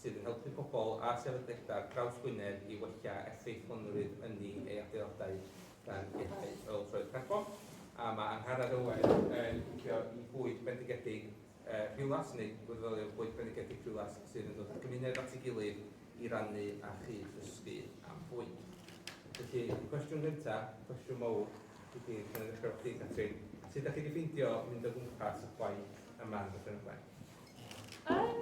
sydd yn helpu pobl a sefydliadau draws Gwynedd i wella effeithlonrwydd ynni ei adeiladau gan leihau ôl troed carbon, a mae Angharad Owen yn licio i bwyd bendigedig Rhiwlas, neu wirfoddolio bwyd bendigedig Rhiwlas, sydd yn dod â'r gymuned at ei gilydd i rannu a chyd-ddysgu am fwyd. Felly, cwestiwn gyntaf, cwestiwn mawr i chi, gan ddechrau efo chdi Catrin, sut dach chi wedi ffeindio mynd o gwmpas y chwaith yma yn Dyffryn Ogwen? Um,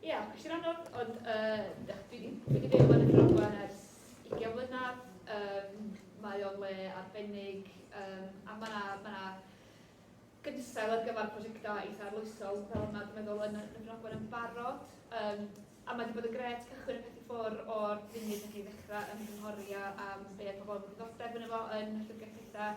Ie, yeah, cwestiwn anodd, ond uh, dwi wedi byw yn y Drogfa ers 20 mlynedd. Um, mae o'n le arbennig, um, a mae yna ma, na, gynsail ar gyfer prosiectau eitha arloesol, fel yma dwi'n meddwl yn y Drogfa yn barod. Um, a mae wedi bod yn gret cychwyn y peth i ffwr o'r funud ydych chi ddechrau ymgynghori am be oedd pobl yn ddiddordeb yn efo yn y llyfrgell pethau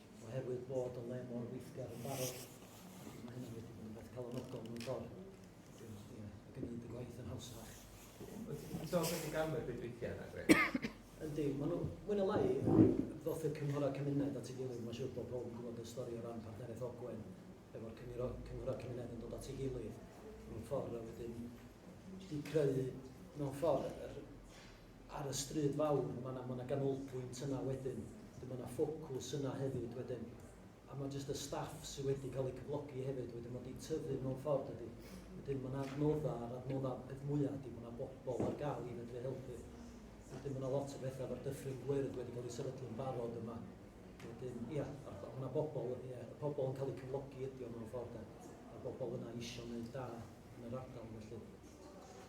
Oherwydd bod y le mor weithgar yn barod, felly mae hynny wedi bod yn beth calonogol mewn ffordd. Wedyn, ie, mae gwneud y gwaith yn hawsach. Wyt ti'n sôn beth i ganfod beth weithiau yna, Greg? Yndi, maen nhw, mwy na lai, ddoth y cynghorau cymuned at ei gilydd, mae'n siŵr bod pob yn gwybod y stori o ran partneriaeth Ogwen, efo'r cynghorau cymuned yn dod at ei gilydd, mewn ffordd a wedyn wedi creu, mewn ffordd, yr ar y stryd fawr, ma' 'na ma' 'na ganolbwynt yna wedyn, wedyn ma' 'na ffocws yna hefyd wedyn, a ma' jyst y staff sy' wedi cael eu cyflogi hefyd wedyn, ma' 'di tyfu mewn ffordd dydi? Wedyn ma' 'na adnoddau, a'r adnoddau peth mwya' ydi ma' 'na bobl ar gael i fedru helpu. Wedyn ma' 'na lot o betha efo'r dyffryn gwyrdd wedi cael ei sefydlu'n barod yma. Wedyn ia, a'r ma' 'na bobl ia, y pobl yn cael eu cyflogi ydi o mewn ffordd de, ma'r bobl yna isio neud da yn yr ardal felly.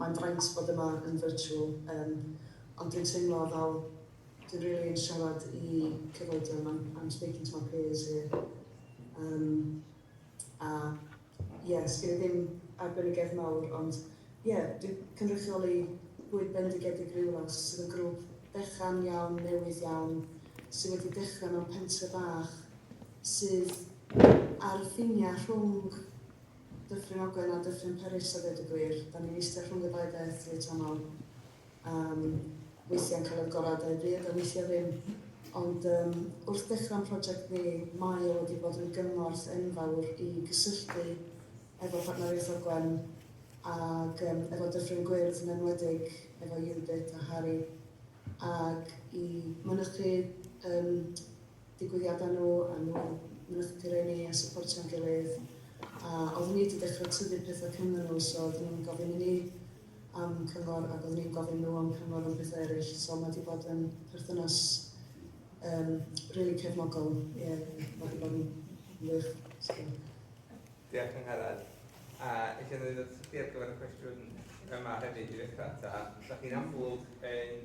Mae'n fraint bod yma yn virtual yym ond dwi'n teimlo fel dwi rili yn siarad i cyfoedion I'm I'm speaking to my peers here yym a ie sgin i ddim arbenigedd mawr ond ie dwi cynrychioli bwyd bendigedig rywle sydd yn grŵp fechan iawn newydd iawn sydd wedi dechre mewn pentre bach sydd ar y ffinia rhwng Dyffryn Ogwen a Dyffryn Peris a ddeud y gwir. Dan ni'n eistedd rhwng y ddau beth reit aml. Yym, weithiau'n cael yr gorau dau bryd a weithiau ddim. Ond yym, wrth ddechrau'n project ni, mae o wedi bod yn gymorth enfawr i gysylltu efo Partneriaeth Ogwen ag yym, efo Dyffryn Gwyrdd yn enwedig, efo Judith a Harry, ag i mynychu yym, digwyddiadau nhw a nhw mynychdu rei ni a sypportio'n gilydd a oeddwn i wedi dechrau tyfu pethau cynddyn nhw so oeddwn nhw'n gofyn i ni am cyngor ac oeddwn ni'n gofyn nhw am cyngor am pethau eraill so mae wedi bod yn perthynas um, really cefnogol ie yeah, mae wedi bod yn wych so. Diolch yn Harald. A eisiau dweud wrth chi ar gyfer y cwestiwn yma hefyd i ddechrau ta, da chi'n amlwg yn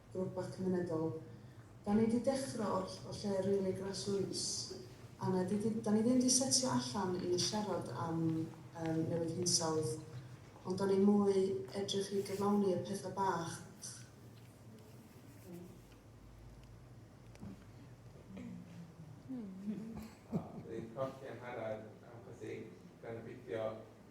drw'r bac mynedol. Da ni di deffro o'r o lle rili grassroots a na di di, da ni ddim di setio allan i siarad am yym newid hinsawdd ond da ni mwy edrych i gyflawni y petha bach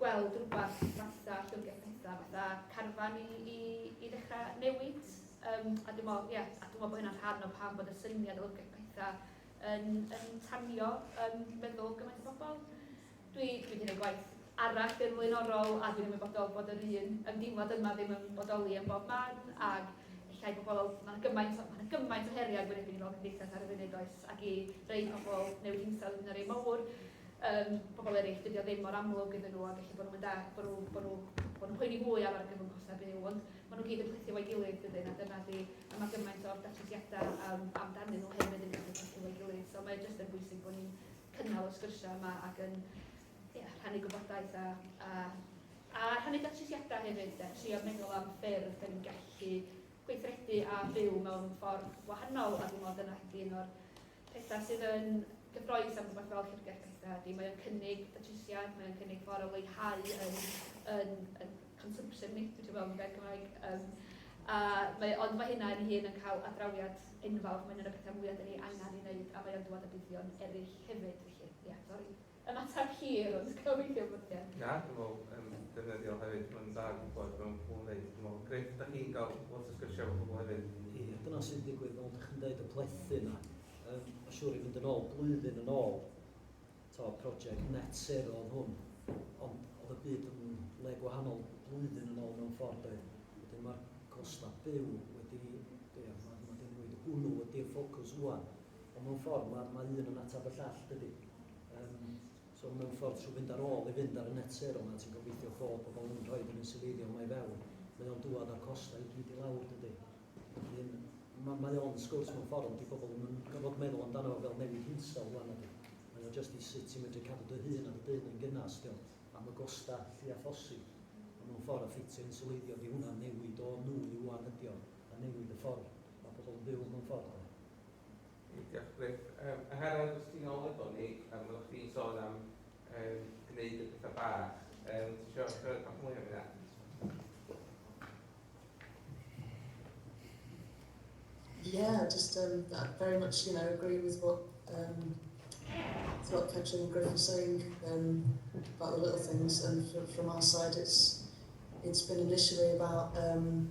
gweld rhywbeth fatha Llyfrgell Pedair, fatha carfan i, i, i ddechrau newid. Um, a dwi'n meddwl, yeah, a dwi'n meddwl bod hynna'n rhan o pam bod y syniad o Llyfrgell Pedair yn, yn tanio um, meddwl gymaint o bobl. Dwi, dwi wedi gwneud gwaith arall yn flaenorol a dwi'n ymwybodol bod yr un ymdeimlad yma ddim yn bodoli yn bob man ac llai pobl, mae'n gymaint, mae gymaint o heriau gwynebu ni fel cymdeithas ar y funud oes ac i rei pobl newid hinsawdd yn yr ei mawr Yym, pobl eraill, dydi o ddim mor amlwg iddyn nhw, ac ella bod nhw'm yn dallt bod nhw, bod nhw, bod nhw'n poeni fwy am argyfwng costau byw, ond maen nhw gyd yn plethu efo'i gilydd, dydyn, a dyna ydi, a mae gymaint o'r datrysiadau am, amdanyn nhw hefyd yn gallu plethu efo'i gilydd, so mae jyst yn bwysig bod ni'n cynnal y sgyrsiau yma ac yn, ie, rhannu gwybodaeth a, a, a rhannu datrysiadau hefyd, de, trio meddwl am ffyrdd da ni'n gallu gweithredu a byw mewn ffordd wahanol, a dwi'n meddwl dyna ydi un o'r pethau sydd yn gyffroes am rhywbeth fel Llyfrgell Betha ydy, mae o'n cynnig datrysiad, mae o'n cynnig ffordd o leihau yn, yn, yn consumption ni, dwi'n meddwl yn gair Cymraeg. Um, a mae, ond mae hynna yn hun yn cael adrawiad enfawr, mae'n un o'r pethau mwyaf dyn ni angen i wneud, a mae o'n dod â buddion eraill hefyd, felly, ie, yeah, sori. Ymateb hir, ond gobeithio bod ie. Na, dwi'n meddwl yn ddefnyddiol hefyd, mae'n dda gwybod be mae pobl yn ddeud. Dwi'n meddwl, grêt, dach chi'n cael lot o sgyrsiau efo pobl hefyd. Ie, dyna sy'n digwydd, fel dach chi'n deud, y plethu yna. Yym, mae'n siŵr i fynd yn ôl, blwyddyn yn ôl, to, project net zero oedd hwn, ond oedd y byd yn le gwahanol blwyddyn yn ôl mewn ffordd doedd. Wedyn mae'r costau byw wedi, ie, mae wedi newid. Hwnnw ydy'r ffocws rwan. Ond mewn ffordd, mae, mae un yn ateb y llall, dydy? Um, so mewn ffordd, trwy fynd ar ôl i fynd ar y net zero yma, ti'n gobeithio bod pobl yn rhoi yn insileiddio yma i fewn. Mae o'n dŵad â'r costau i gyd i lawr, dydy? Felly, mae, mae o'n sgwrs mewn ffordd, di pobl yn gorfod meddwl amdano fel newid hinsel rwan ydy. Mae o jyst i sut ti'n medru cadw dy hun a dy dyn yn gynnas, dio, am y gostau llu a phosib. Ond mewn ffordd, a ffitio insileiddio, di hwnna'n newid o nwy i wan ydio, a newid y ffordd mae pobl yn byw mewn ffordd. Diolch Gruff. Yym a Harald os ti'n ôl efo ni yym oddach chdi'n sôn am yym gneud y petha bach yym ti isio siarad bach mwy am hynna? Yeah, just um, very much, you know, agree with what um, what Catherine and Griff are saying um, about the little things, and from, from our side, it's it's been initially about um,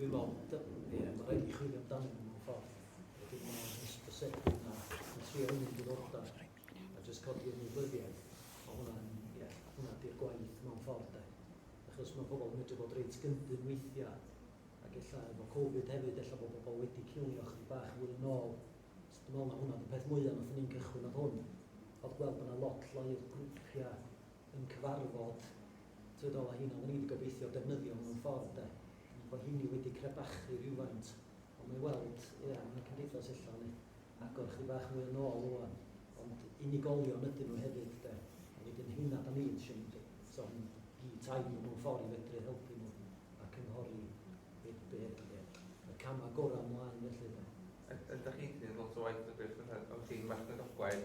Dwi'n meddwl, d- ie, mae'n rhaid i chwilio amdanyn nhw mewn ffordd. Wedyn mae yna hysbysebu yna yn trio unrhyw diddordeb a jyst codi ymwybyddiaeth. Mae hwnna'n, ie, hwnna di'r gwaith mewn ffordd de. Achos mae pobl yn medru bod reit gyndyn weithiau ac ella efo Covid hefyd ella bod pobl wedi cilio chydig bach fwy yn ôl. So dwi'n meddwl na hwnna oedd y peth mwyaf nath ni'n cychwyn oedd hwn. Oedd gweld bod yna lot llai o grwpiau yn cyfarfod Trydol a hynaf o'n i 'di gobeithio defnyddio mewn ffordd 'de, bo hynny wedi crebachu rywfaint, ond mae weld, ia, mae cymdeithas ella yn agor chydig bach mwy o nôl ŵan, ond unigolion ydyn nhw hefyd 'de, a wedyn hynaf da ni isio mynd eto yn i tai nhw mewn ffordd i fedru helpu nhw a cynghori be be be y camau gorau mlaen felly 'de. Ydach chi'n gwneud lot o waith o gweithgaredd efo tîm marchnad oglau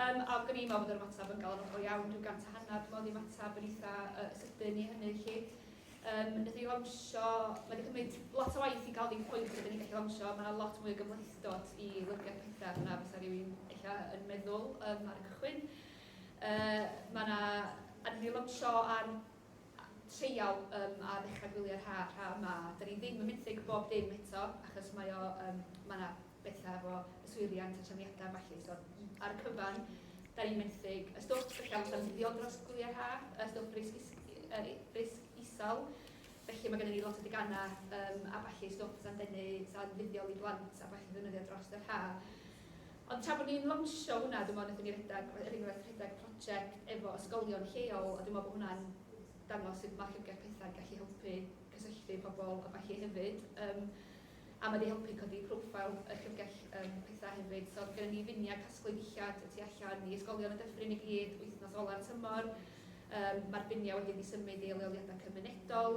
Yym, ac o'n i'n meddwl bod yr ymateb yn galonogol iawn, rhyw gant a hanner, dwi'n meddwl, oedd ymateb yn eitha uh, sydyn i hynny, chi. Um, Nid i lansio, mae wedi cymryd lot o waith i gael ni'n pwynt ydyn ni'n gallu lansio, mae yna lot mwy o gymhlethdod i lyfrgell pethau yna fysa rhywun eich yn meddwl um, ar y cychwyn. Uh, mae yna, a ni lansio ar treial um, a ddechrau gwylio'r ha, rha yma. Da ni ddim yn mynd i gwybod dim eto, achos mae o, um, mae yna betha efo yswiriant a trefniadau a ballu, so ar y cyfan da ni'n menthyg y stwff sy'n gallu tanseilio dros gwyliau ha, y stwff risg is- yy risg isel, felly mae gennym ni lot o deganau yym a ballu, stwff sa'n denu, sa'n fuddiol i blant a ballu ddefnyddio dros yr ha. Ond tra bod ni'n lawnsio hwnna, dwi'n meddwl wnaethon ni redeg, er enghraifft, rhedeg project efo ysgolion lleol, a dwi'n meddwl bod hwnna'n dangos sut mae Llyfrgell Pethau'n gallu helpu cysylltu pobl a ballu hefyd. Yym. A mae 'di helpu codi profile y llyfrgell yym petha hefyd. So oedd gynnon ni finiau casglu dillad y tu allan i ysgolion y Dyffryn i gyd wythnos ola'r tymor. Yym ma'r finiau wedyn 'di symud i leoliadau cymunedol.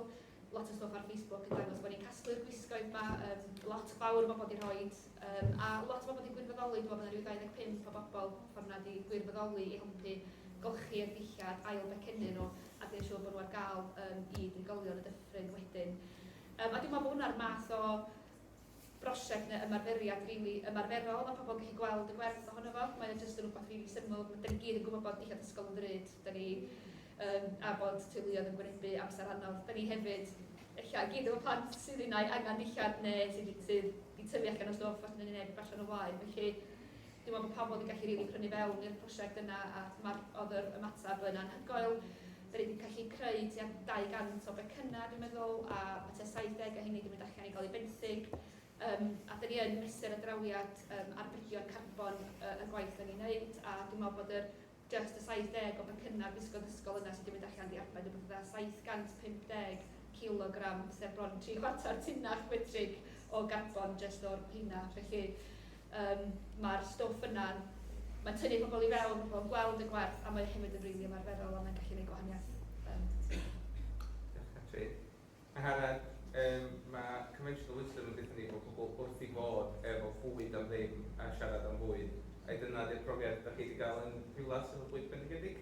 Lot o stwff ar Facebook yn dangos bod ni'n casglu'r gwisgoedd 'ma. Yym lot fawr o bobl 'di rhoi yym a lot o bobl 'di gwirfoddoli. Dwi'n meddwl bod 'na ryw 25 o bobl ffor 'na 'di gwirfoddoli i helpu golchi'r dillad, ail becynnu nhw a gwneud siŵr bod nhw ar gael yym i drigolion y Dyffryn wedyn. Yym a dwi'n meddwl bod hwnna'r math o brosiect neu ymarferiad rili ymarferol ma' pobl yn gallu gweld y gwerth ohono fo. Mae o jyst yn wbath rili syml. M- 'dan ni gyd yn gwbod bod dillad ysgol yn ddrud, 'dan ni yym a bod teuluoedd yn gwynebu amser anodd. 'Dan ni hefyd ella i gyd efo plant sydd unai angan dillad neu sy 'di sy 'di tyfu allan o stwff os neu neb allan o flaen. Felly dwi'n meddwl bod pobl 'di gallu rili prynu fewn i'r prosiect yna a ma'r o'dd yr ymateb yn anhygoel. Dan ni 'di gallu creu tua 200 o becynnau dwi'n meddwl a ma' tua 70 o heini 'di mynd allan i ga'l eu benthyg yym a dan ni yn mesur y drawiad yym arbedion carbon yy y gwaith dan ni'n neud a dwi'n meddwl bod yr jyst y 70 o becynnau bysgod ysgol yna sy' 'di mynd allan 'di arbed rywbeth fatha 750 cilogram sef bron tri chwarter tunnall metrig o garbon jyst o'r rheina felly Yym, mae'r stwff yna yn... mae'n tynnu pobl i fewn, mae pobl yn gweld y gwerth a mae o hefyd yn rili ymarferol a mae'n gallu gwneud gwahaniaeth. Yym, diolch. Diolch Catri. Angharad, yym, mae conventional wisdom yn deutha ni bod pobl wrth eu bodd efo bwyd am ddim a siarad am fwyd. Ai dyna 'di'r profiad dach chi 'di gael yn Rhiwlas efo bwyd bendigedig?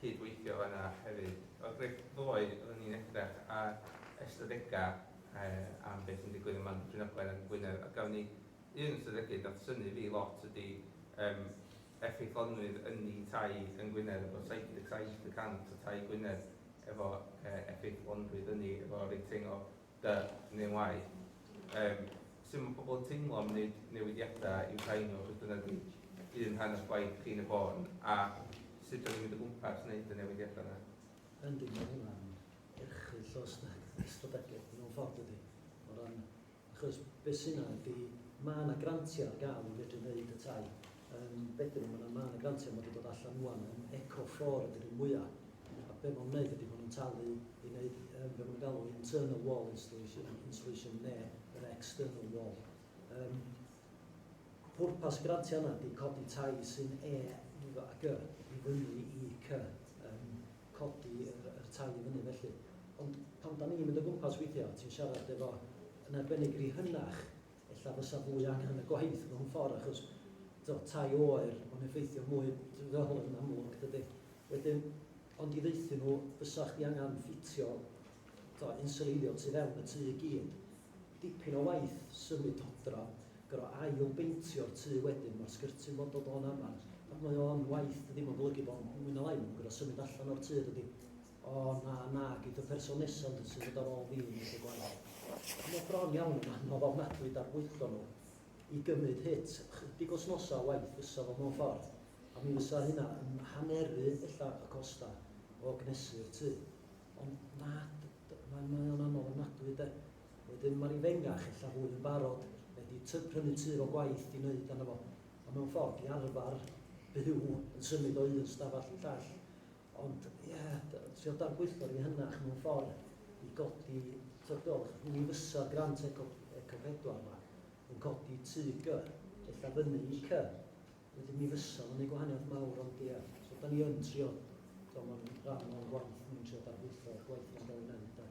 cyd-weithio yna hefyd. O'r gweill ddoe oedden ni'n edrach ar ystadegau am beth sy'n digwydd ym Mhont y Trinogwen yn Ngwynedd a gafon ni un ystadegydd nath synnu fi lot ydi yym effeithlonrwydd ynni tai yn Ngwynedd efo 77 y cant o tai Gwynedd efo yy effeithlonrwydd ynni efo rating o Da, neu'n wae. Yym, sut mae pobl yn teimlo am wneud newidiadau i'w tai nhw achos dyna ydy un rhan o'ch gwaith chi yn y bôn, a sut da ni'n mynd o gwmpas wneud y newidiadau yna? Yndi, mae hwnna'n erchyll o ystadegau mewn ffordd dydy. O ran, achos beth sy'n yna ydy, mae yna grantiau ar gael i fedru wneud y tai. Um, bedyn nhw, mae yna, mae yna grantiau mae wedi dod allan mwan yn Eco Fflor ydy'r un mwyaf. A be' ma' nhw'n neud ydi ma' nhw'n talu i neud yym be' ma' nhw'n galw internal wall installation installation ne' yr external wall. Yym pwrpas y grantia yna ydi codi tai sy'n E yy a Gy i fyny i Cy, yym codi yr yr tai i fyny felly. Ond pan 'dan ni'n mynd o gwmpas weithia' ti'n siarad efo yn arbennig ry hynach ella fysa fwy angen y gwaith mewn ffordd achos tibod, tai oer mae'n effeithio mwy fel yn amlwg dydy. Wedyn, ond i ddeuthyn nhw, fysa chdi angen ffitio tibod, insuleiddio tu fewn y tŷ i gyd. Dipyn o waith symud odra, gorfod ail beintio'r tŷ wedyn, mae'r sgyrtyn fod dod o'n amar, ac mae o'n waith, dydy, mae'n golygu bod mwy na lai, mae'n gorfod symud allan o'r tŷ dydy. O na, na, gei dy person nesa yn dy symud ar ôl fi yn eisiau gwaith. A mae bron iawn yn anodd ofnadwy darbwyllo nhw. I gymryd hit, ychydig wsnosa o waith fysa fo mewn ffordd, a mi fysa hynna yn haneru ella y costa o gnesu'r tŷ. Ond na, mae mae o'n anodd ofnadwy de. Wedyn ma'r ifengach ella fwy yn barod, mae di ty prynu tŷ fo gwaith i neud arno fo, a mewn ffordd di arfar byw yn symud o un stafall i'r llall. Ond, ie, trio dadbwyllgor yn ehynach mewn ffordd i godi tybiolch. Mi fysa'r grant Eco Eco Pedwar 'ma yn codi tŷ gy, ella fyny i cy. Wedyn mi fysa fo'n neud gwahaniaeth mawr ond ie. So 'dan ni yn trio, t'mo' ma'n rhan o'n gwaith ni'n trio dadbwyllgor gwaith ni'n ga'l ei neud de.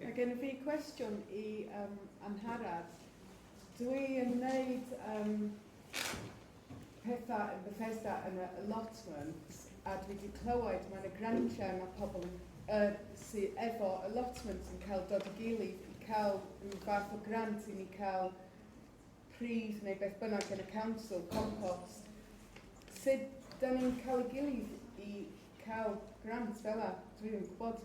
Mae gen fi cwestiwn i um, Angharad. Dw i yn wneud um, pethau yn Bethesda yn y allotments a dwi wedi clywed mae'n y grantiau mae pobl yn, uh, sydd efo allotments yn cael dod i gilydd i cael rhyw fath o grant i ni cael pridd neu beth bynnag yn y council, compost. Sut da ni'n cael y gilydd i cael grant fel yna? Dwi ddim yn gwybod.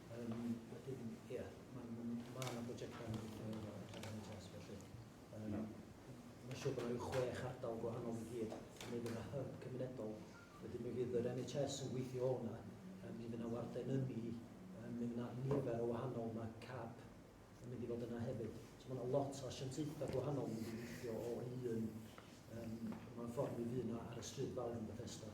Um, wedyn, ie, yeah, mae ma, ma yna brosiectau yn gweithio efo NHS, felly um, no. mae siw bod yna chwech ardal gwahanol i gyd yn mynd yna hyb cymunedol. Wedyn mi fydd yr NHS yn gweithio o'na, um, mi fydd yna warden yn ni, um, mi fydd yna nifer o wahanol, mae CAP yn mynd i fod yna hefyd. So mae yna lot o asiantaethau gwahanol yn mynd i weithio o un, um, mae'n ffordd mi fydd yna ar y stryd fawr yn Bethesda.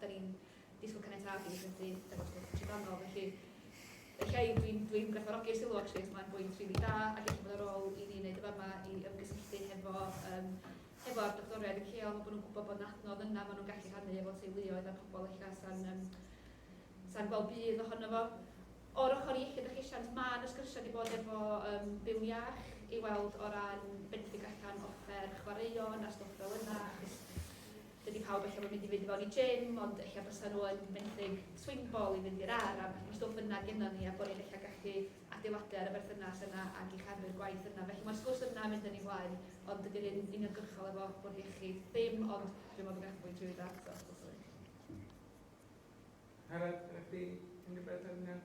Da ni'n disgwyl caniatâd i weithredu efo'r stwff trydanol, felly ella i, dwi'n dwi gwerthfawrogi'r sylw actually, so mae'n bwynt rili really da, ac eich bod ar ôl i ni wneud y fama i ymgysylltu hefo, um, hefo ar doctoriaid y ceol, mae bod nhw'n gwybod bod yn adnodd yna, maen nhw'n gallu rhannu efo teuluoedd a pobl ella sa'n um, sa gweld bydd ohono fo. O'r ochr iechyd a llesiant, mae yna sgyrsiau wedi bod efo um, byw iach i weld o ran benthyg allan offer chwaraeon a stwff fel yna, achos Dydy pawb ella ddim yn mynd i fynd i fewn i gym, ond ella bysa nhw yn benthyg swing ball i fynd i'r ar, a mae stwff yna gennon ni, a bod ni'n ella gallu adeiladu ar y berthynas yna ag eich arwyr gwaith yna. Felly mae'r sgwrs yna yn mynd yn ei flaen, ond dydy'r un uniongyrchol efo bwrdd iechyd ddim, ond dwi'n meddwl bod gennych fwy drwy dda eto os gwelwch yn dda. Harald, ydych chi yn gyferbyniol?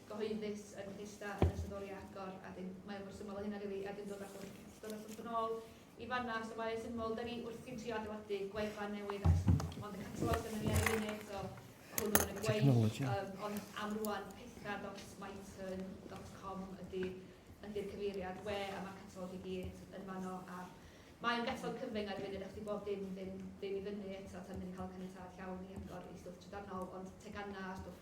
gyhoeddus yn Bethesda yn ystod oriau agor a dyn, mae o mor syml o hynna rili a dyn dod â chwech cell, dod â stwff yn ôl i fanna so mae o'n syml, da ni wrthi'n trio adeiladu gwefan newydd a ond y catalog yn mynd i ar y so hwnnw yn y gwaith, um, ond am rwan petha.myton.com ydy ydy'r cyfeiriad we a mae'r catalog i gyd yn fanno a Mae'n betrol cyfyng ar y funud eich di bob dim ddim, ddim i fyny eto tan ni'n cael caniatad llawn i agor i stwff trydanol, ond tegannau a stwff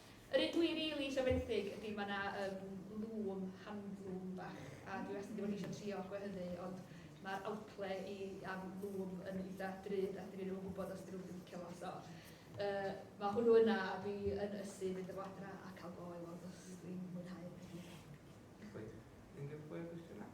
Yr un dwi rili isio fenthyg ydi ma' 'na yym lŵm, handloom, bach a dwi wastad 'di bod isio trio gwehyddu ond ma'r outlay i am lŵm yn eitha drud a dwi ddim yn gwybod os 'di rywun 'di licio fo so yy ma' hwnnw yna a dwi yn ysu mynd â fo adra a cael go i weld os dwi'n mwynhau. Reit. Unrhyw fwy o gwestiynau?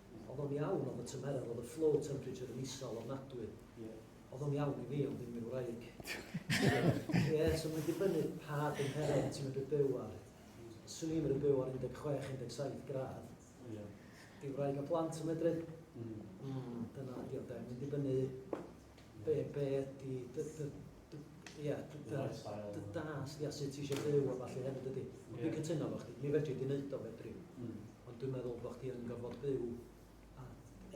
Oedd o'n iawn, oedd y tymeredd, oedd y flow temperature yn isel ofnadwy. Oedd o'n iawn i fi, ond ddim i'r wraig. Ie, so mae'n dibynnu pa dymheredd ti'n medru byw ar. Os swn i'n medru byw ar 16, 17 gradd, di wraig a plant yn medru. Mm. Mm, dyna ydi o de, mae'n dibynnu Be, be ydi, dy, dy, dy, ia, dy, dy, dy dasg, ia, sut ti eisiau byw a falle hefyd ydi. Ond dwi'n cytuno efo chdi, mi fedri di wneud o fedri. Mm. Ond dwi'n meddwl bod chdi yn gorfod byw a,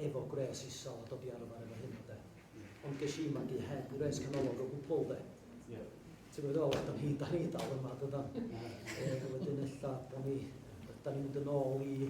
efo gwres isol a dod i arfer efo hyn o de. Yeah. Ond ges i magu heb gwres canolog o gwbl de. Yeah. Ti'n gwybod ôl, da ni, da ni dal yma, dydan. Yeah. e, wedyn ella, da ni, da ni'n mynd yn ôl i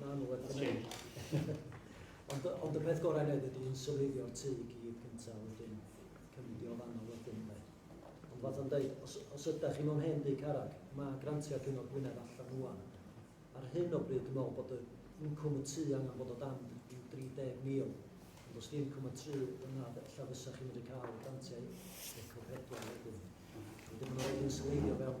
Na, nhw wedi gwneud. Ond, ond y peth gorau wneud ydy yn sylweithio'r tu i gyd cyntaf wedyn cymryd i o fanno wedyn ynddo. Ond fath o'n dweud, os, os ydych chi mewn hen dŷ carreg, mae grantiau Cyngor Gwynedd allan wwan. Ar hyn o bryd, dwi'n meddwl bod y incwm y tu angen bod o dan i'w 30,000. Ond os di incwm y tu yna, ella fysa chi'n mynd i cael grantiau eco pedwar wedyn. Wedyn mae'n rhaid i'n sylweithio fewn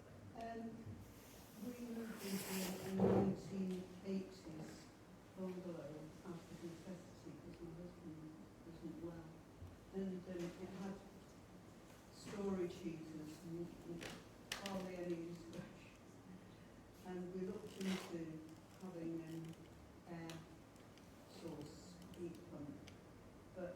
Yn fwy nodedig yn y 1980s, Bungalow, Arctic Necessity, cos mae husband yn husband yn well. And um, it had storage heaters, hardly any distraction. And we looked into having an air source heat pump, but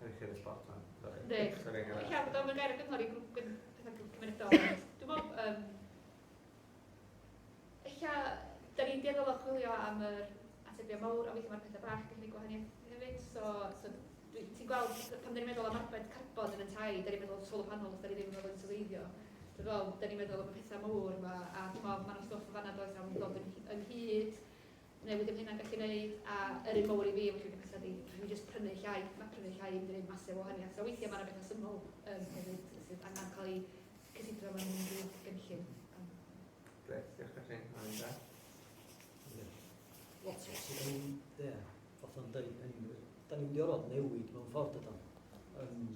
Rhaid chi edrych lot fan. Ynddi. Dwi'n cael bod o'n gair o gyngor i grŵp pethau cymunedol. Dwi'n meddwl, um, eich da ni'n dueddol o chwilio am yr atebion mawr, a weithio mae'r pethau bach gallu gwneud gwahaniaeth hefyd. So, so ti'n gweld, pan dyn ni'n meddwl am arbed carbon yn y tai, dyn ni'n meddwl am solar panels, dyn ni'n ddim yn meddwl yn sylweithio. Dwi'n meddwl, dyn ni'n meddwl am y pethau mawr yma, a dwi'n meddwl, mae'n stwff o fanna does am ddod ynghyd, Neu wedi am hynna'n gallu neud, a yr un mowr i fi efo llwyni petha di, rhaid mi jyst prynu llai, ma prynu llai ddim di neud massive o wahaniath, so weithia ma na betha syml yym hefyd sydd angan cael i cysidro mewn unrhyw gynllun. Grêt, diolch Catrin, mae'n dda. Lot o sydd yn mynd, ie, fatha yn dweud, da ni'n mynd i orfod newid mewn ffordd dydan. Um,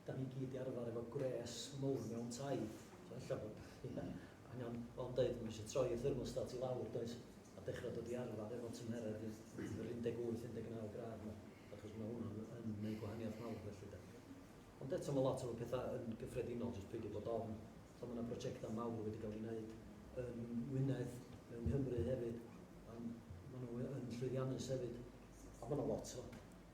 'da ni gyd 'di arfar efo gwres mowr mewn tai, so ella bod, ia, angen, fel o'n deud, ma' isio troi y thermostat i lawr, does, a dechra dod i arfar efo tymheredd yr 18, 19 gradd 'ma, achos ma' hwnnw'n yn neud gwahaniaeth mawr felly 'de. Ond eto ma' lot o'r petha yn gyffredinol, jyst peidio bod ofn, t'o' ma' 'na brojecta mawr wedi ga'l 'u neud yn Ngwynedd, mewn Nghymru hefyd, a ma' nw yn llwyddiannus hefyd, a ma' 'na lot o